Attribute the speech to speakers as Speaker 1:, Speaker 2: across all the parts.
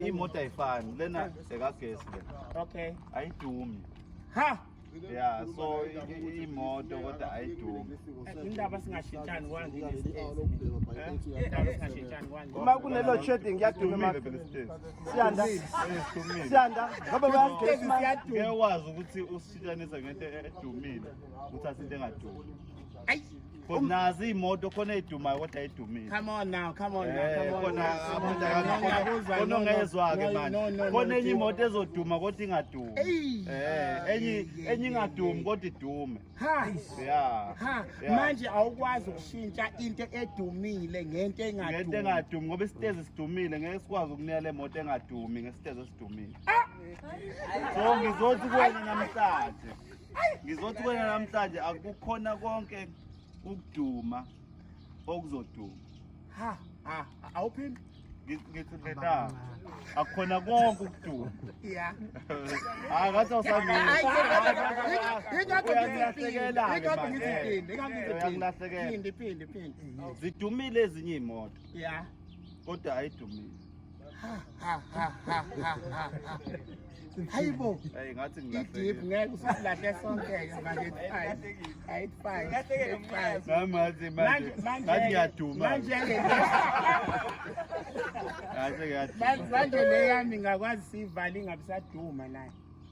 Speaker 1: imoto ayifani lena ekagesi lena okay
Speaker 2: ayidumi
Speaker 1: ha
Speaker 2: ya so
Speaker 1: imoto kodwa ayidumi indaba
Speaker 2: singashintshani uma kunelo shading
Speaker 3: kuyaduma imali siyanda siyanda ngoba bayagesi siyaduma
Speaker 1: ukuthi usishintshanisa ngento edumile uthatha into engadumi
Speaker 2: Cause nazi
Speaker 1: imoto khona edumayo kodwa edumile. Come on now, come on
Speaker 2: now, come on. Khona
Speaker 1: abantu akakuzwa. Khona ongezwa ke manje. Khona enye imoto ezoduma kodwa ingadumi. Eh, enye enye ingadumi kodwa idume. Ha. Yeah.
Speaker 2: Ha. Manje awukwazi ukushintsha into edumile ngento engadumi. Ngento engadumi ngoba
Speaker 1: isitezi sidumile ngeke sikwazi ukunela imoto engadumi ngesitezi esidumile. Ah! So ngizothi kuwena namhlanje. Ngizothi kuwena namhlanje akukhona konke ukuduma okuzoduma. Ha ha
Speaker 2: awuphindi ngithi ngena
Speaker 1: akukhona konke ukuduma. Yeah.
Speaker 2: Hayi
Speaker 1: ngathi awusamile. Uyangilahlekela ke manje. Uyangilahlekela. Phinde
Speaker 2: phinde phinde. Zidumile
Speaker 1: ezinye imoto Yeah.
Speaker 2: kodwa
Speaker 1: ayidumile.
Speaker 2: hayibo idip
Speaker 1: ngeke
Speaker 2: usilahle sonke
Speaker 1: manje
Speaker 2: leyami ngakwazi siyivale ingabisaduma naye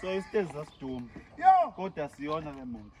Speaker 1: so isitezi sasiduma kodwa
Speaker 2: siyona
Speaker 1: le moto